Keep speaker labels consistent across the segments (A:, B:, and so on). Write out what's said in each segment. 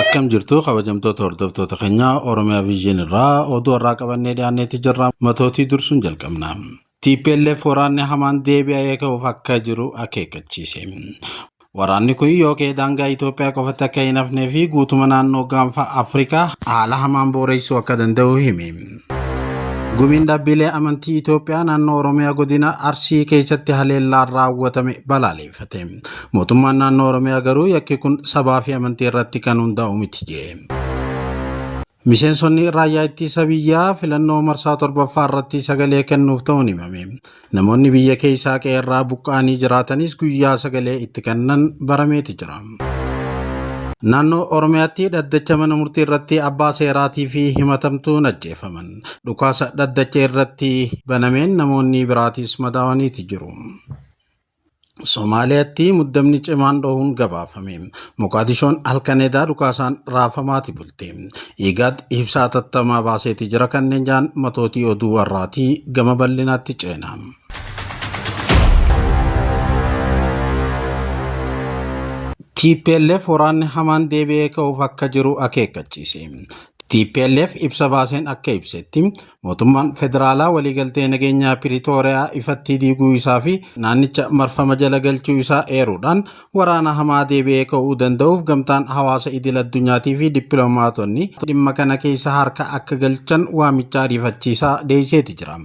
A: Akkam jirtu kabajamtoota hordoftoota keenyaa Oromiyaa Viizyiin irraa oduu har'aa qabannee dhiyaanneetti jirra. Matootii dursuun jalqabna. TPLF waraanni hamaan deebi'ee ka'uuf akka jiru akeekkachiise. Waraanni kun yoo ka'e daangaa Itoophiyaa qofatti akka hin hafnee fi guutuma naannoo gaanfa Afrikaa haala hamaan booreessuu akka danda'u hime. Gumiin dhaabbilee amantii Itoophiyaa naannoo Oromiyaa godina Arsii keessatti haleellaan raawwatame balaaleeffate. Mootummaan naannoo Oromiyaa garuu yakki kun sabaa fi amantii irratti kan hundaa'u miti jedhe. Miseensonni raayyaa ittisa biyyaa filannoo marsaa torbaffaa irratti sagalee kennuuf ta'uun himame. Namoonni biyya keessaa qe'eerraa buqqa'anii jiraatanis guyyaa sagalee itti kennan barameeti jira. Naannoo Oromiyaatti dhaddacha mana murtii irratti abbaa seeraatii fi himatamtuun ajjeefaman. Dhukaasa dhaddacha irratti banameen namoonni biraatis madaawaniiti jiru. Somaaliyaatti muddamni cimaan dhohuun gabaafame. Moqaadishoon halkan edaa dhukaasaan raafamaati bulte. Igaad ibsaa tattamaa baaseeti jira kanneen jaan matootii oduu warraatii gama bal'inaatti ceena. TPLF waraanni hamaan deebi'ee ka'uuf akka jiru akeekkachiise. TPLF ibsa baaseen akka ibsetti Mootummaan federaalaa waliigaltee nageenyaa Piriitooriyaa ifatti diiguu isaa fi naannicha marfama jala galchuu isaa eeruudhaan waraana hamaa deebi'ee ka'uu danda'uuf gamtaan hawaasa idil addunyaatii fi dippiloomaatonni dhimma kana keessa harka akka galchan waamicha ariifachiisaa deeyiseeti jira.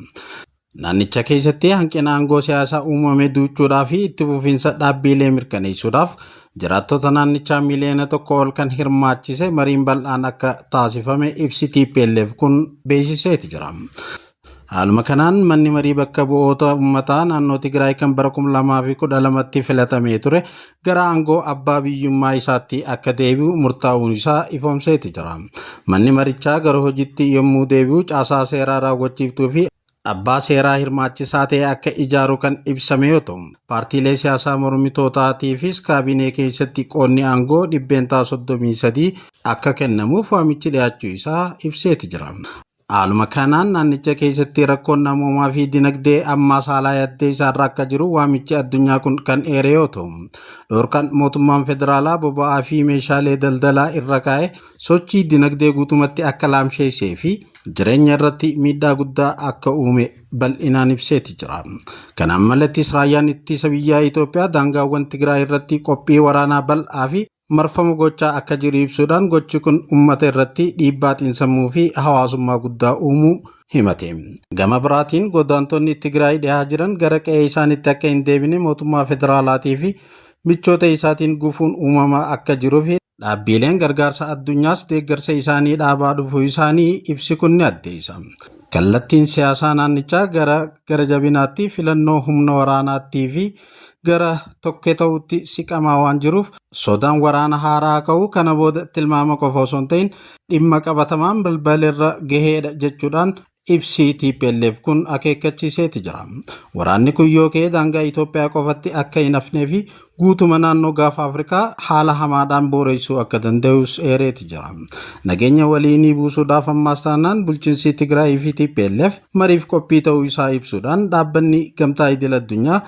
A: Naannicha keessatti hanqina aangoo siyaasaa uumame duuchuudhaa fi itti fufiinsa dhaabbiilee mirkaneessuudhaaf Jiraattota naannichaa miiliyoona tokko ol kan hirmaachise mariin bal'aan akka taasifame ibsi TPLF kun beeksiseeti jira. Haaluma kanaan manni marii bakka bu'oota uummataa naannoo Tigraay kan bara 2012tti filatamee ture gara aangoo abbaa biyyummaa isaatti akka deebi'u murtaa'uun isaa ifoomseeti jira. Manni marichaa gara hojiitti yommuu deebi'u caasaa seeraa raawwachiiftuu fi abbaa seeraa hirmaachisaa ta'e akka ijaaru kan ibsame yoo ta'u, paartiilee siyaasaa mormitootaatiifis kaabinee keessatti qoodni aangoo dhibbeentaa 33 akka kennamuuf waamichi dhiyaachuu isaa ibseeti jira. Haaluma kanaan naannicha keessatti rakkoon namoomaa fi dinagdee ammaas haalaa yaddee isaarra akka jiru waamichi addunyaa kun kan eere yoo ta'u, dhorkaan mootummaan federaalaa boba'aa fi meeshaalee daldalaa irra kaa'e sochii dinagdee guutumatti akka laamsheessee fi jireenya irratti miidhaa guddaa akka uume bal'inaan ibseeti jira. Kanaan malattis raayyaan ittisa biyyaa Itoophiyaa daangaawwan Tigraay irratti qophii waraanaa bal'aa fi marfamu gochaa akka jiru ibsuudhaan gochi kun uummata irratti dhiibbaa xiinsammuu fi hawaasummaa guddaa uumuu himate. Gama biraatiin godaantonni Tigraay dhihaa jiran gara qe'ee isaanitti akka hin deebine mootummaa federaalaatii fi michoota isaatiin gufuun uumamaa akka jiruu fi Dhaabbiileen gargaarsa addunyaas deeggarsa isaanii dhaabaa dhufuu isaanii ibsi kun ni addeessa. Kallattiin siyaasaa naannichaa gara gara jabinaatti filannoo humna waraanaattii fi gara tokkee ta'utti siqamaa waan jiruuf sodaan waraana haaraa ka'uu kana booda tilmaama qofa osoo hin ta'in dhimma qabatamaan balbalirra gaheedha jechuudhaan Ibsi tplf kun akeekkachiiseeti jira. Waraanni kun yoo ka'e daangaa Itoophiyaa qofatti akka hin hafnee fi guutuma naannoo gaafa Afrikaa haala hamaadhaan booreessuu akka danda'us eereeti jira. Nageenya waliinii buusuudhaaf ammaas taanaan bulchinsii Tigraayii fi tplf mariif qophii ta'uu isaa ibsuudhaan dhaabbanni gamtaa idil addunyaa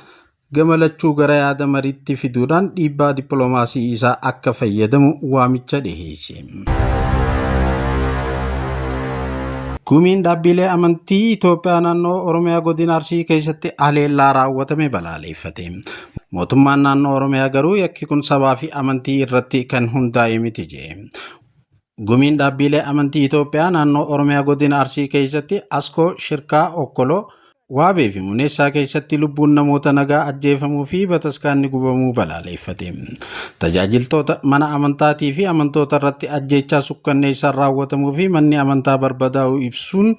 A: gama lachuu gara yaada mariitti fiduudhaan dhiibbaa dippiloomaasii isaa akka fayyadamu waamicha dhiheesse. Gumiin dhaabbiilee amantii Itoophiyaa naannoo Oromiyaa godina Arsii keessatti haleellaa raawwatame balaaleeffate. Mootummaan naannoo Oromiyaa garuu yakki kun sabaa fi amantii irratti kan hundaa'e miti jedhe. Gumiin dhaabbiilee amantii Itoophiyaa naannoo Oromiyaa godina Arsii keessatti Askoo, Shirkaa, Okkoloo, Waabee fi Muneessaa keessatti lubbuun namoota nagaa ajjeefamuu fi bataskaanni gubamuu balaaleeffate. Tajaajiltoota mana amantaatii fi amantoota irratti ajjeechaa sukkanneessaan raawwatamuu fi manni amantaa barbadaa'uu ibsuun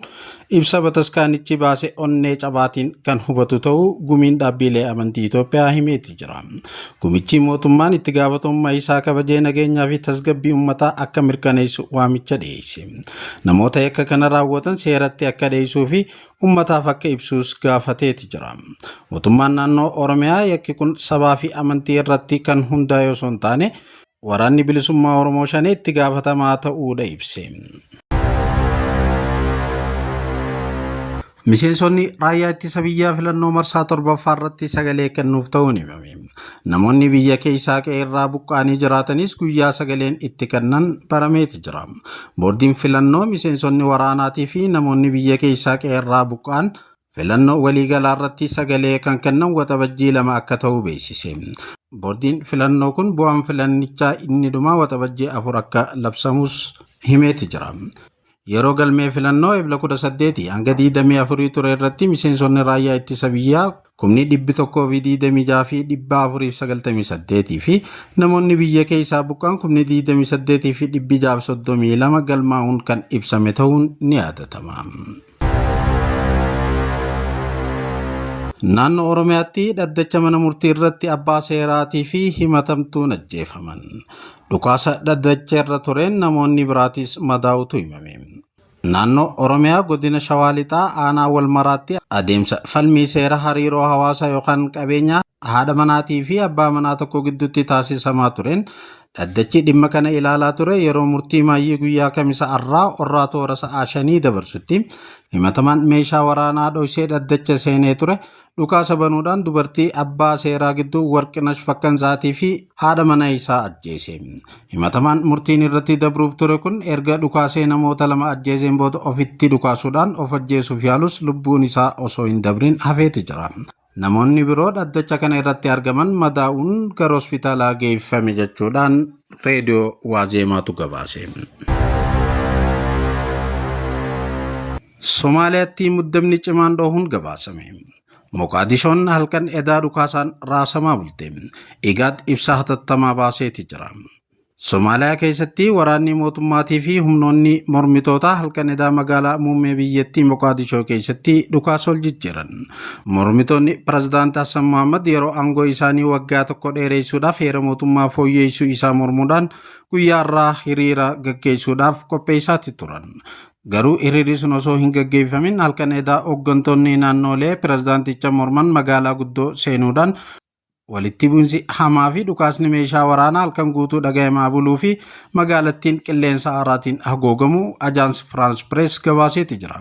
A: Ibsa bataskaanichi baase onnee cabaatiin kan hubatu ta'uu gumiin dhaabbiilee amantii Itoophiyaa himeeti jira. Gumichi mootummaan itti gaafatamummaa isaa kabajee nageenyaa fi tasgabbii uummataa akka mirkaneessu waamicha dhiyeesse. Namoota yakka kana raawwatan seeratti akka dhiyeessuu fi uummataaf akka ibsuus gaafateeti jira. Mootummaan naannoo Oromiyaa yakki kun sabaa fi amantii irratti kan hundaa'e osoo hin taane Waraanni Bilisummaa Oromoo Shanee itti gaafatamaa ta'uudha ibse. Miseensonni raayyaa ittisa biyyaa filannoo marsaa torbaffaa irratti sagalee kennuuf ta'uun himame. Namoonni biyya keessaa qe'eerraa buqqa'anii jiraatanis guyyaa sagaleen itti kennan barameeti jira. Boordiin filannoo miseensonni waraanaatii fi namoonni biyya keessaa qe'eerraa buqqa'an Filannoo waliigalaarratti sagalee kan kennan waxabajjii lama akka ta'u beeksise. Boordiin filannoo kun bu'aan filannichaa inni dhumaa waxabajjii afur akka labsamus himeeti jira. Yeroo galmee filannoo ebla 18 hanga 24 ture irratti miseensonni raayyaa ittisa biyyaa kumni 126 fi 498 fi namoonni biyya keessaa buqqaan kumni 28 fi 632 galmaa'uun kan ibsame ta'uun ni yaadatama. Naannoo Oromiyaatti dhaddacha mana murtii irratti abbaa seeraatii fi himatamtuun ajjeefaman. Dhukaasa dhaddacha irra tureen namoonni biraatis madaa'utu himame. Naannoo Oromiyaa godina Shawaa Lixaa aanaa wal maraatti adeemsa falmii seera hariiroo hawaasaa yookaan qabeenyaa haadha manaatii fi abbaa manaa tokko gidduutti taasisamaa tureen dhaddachi dhimma kana ilaalaa ture yeroo murtii maayyii guyyaa kamisa arraa orraa toora sa'aa shanii dabarsutti himatamaan meeshaa waraanaa dhoysee dhaddacha seenee ture dhukaasa banuudhaan dubartii abbaa seeraa gidduu warqinash fakkansaatii fi haadha mana isaa ajjeese himatamaan murtiin irratti dabruuf ture kun erga dhukaasee namoota lama ajjeeseen booda ofitti dhukaasuudhaan of ajjeesuuf yaalus lubbuun isaa osoo hin dabrin hafeeti jira Namoonni biroo dhaddacha kana irratti argaman madaa'uun gara hospitaalaa geeffame jechuudhaan reediyoo Waazeemaatu gabaase. Somaaliyaatti muddamni cimaan dhohuun gabaasame. Moqaadishoon halkan edaa dhukaasaan raasamaa bulte. Igaad ibsa hatattamaa baaseeti jira. Somaaliyaa keessatti waraanni mootummaatii fi humnoonni mormitootaa halkan edaa magaalaa muummee biyyattii Moqaadishoo keessatti dhukaas ol jijjiiran. Mormitoonni pirezidaant Hassan Mohaammed yeroo aangoo isaanii waggaa tokko dheereessuudhaaf heera mootummaa fooyyeessuu isaa mormuudhaan guyyaa irraa hiriira gaggeessuudhaaf qopheessaatti turan. Garuu hiriirri sun osoo hin gaggeeffamin halkan edaa hooggantoonni naannoolee pirezidaanticha morman magaalaa guddoo seenuudhaan Walitti bu'insi hamaa fi dhukaasni meeshaa waraanaa halkan guutuu dhagayamaa buluu fi magaalattiin qilleensa aaraatiin hagoogamuu Ajaans Firaans Pirees gabaaseeti jira.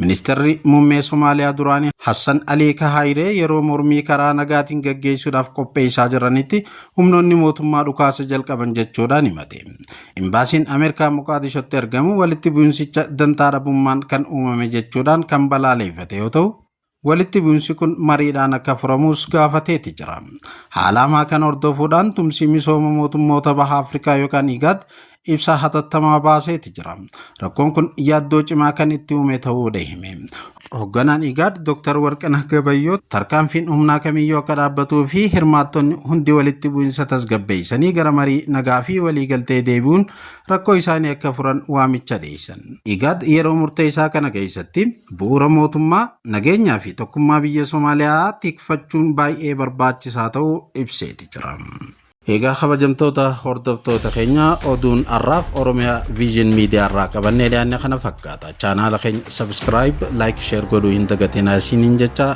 A: Ministeerri muummee Somaaliyaa duraanii Hassan Alii Kahaayiree yeroo mormii karaa nagaatiin gaggeessuudhaaf qopheessaa jiranitti humnoonni mootummaa dhukaasa jalqaban jechuudhaan himate. Imbaasiin Ameerikaa Moqaadishotti argamu walitti bu'insicha dantaa dhabummaan kan uumame jechuudhaan kan balaaleeffate yoo ta'u, Walitti bu'insi kun mariidhaan akka furamus gaafateeti jira. Haala hamaa kana hordofuudhaan tumsii misooma mootummoota baha Afrikaa yookaan IGAD ibsa hatattamaa baaseeti jira. Rakkoon kun yaaddoo cimaa kan itti uume ta'uudha hime. Hogganaan IGAD Dr. Warqinah Gabayyoo tarkaanfiin humnaa kamiyyuu akka dhaabbatuu fi hirmaattonni hundi walitti bu'insa tasgabbeessanii gara marii nagaa fi waliigaltee deebi'uun rakkoo isaanii akka furan waamicha dhiyeessan. Igaad yeroo murteessaa kana keessatti bu'uura mootummaa, nageenyaa fi tokkummaa biyya Somaaliyaa tikfachuun baay'ee barbaachisaa ta'uu ibseeti jira. Egaa kabajamtoota hordoftoota keenya oduun har'aaf Oromiyaa Viizhin Miidiyaa irraa qabannee dhiyaanne kana fakkaata. Chaanaala keenya sabiskiraayib, laayik, sheer godhuu hin dagatinaa isiniin jecha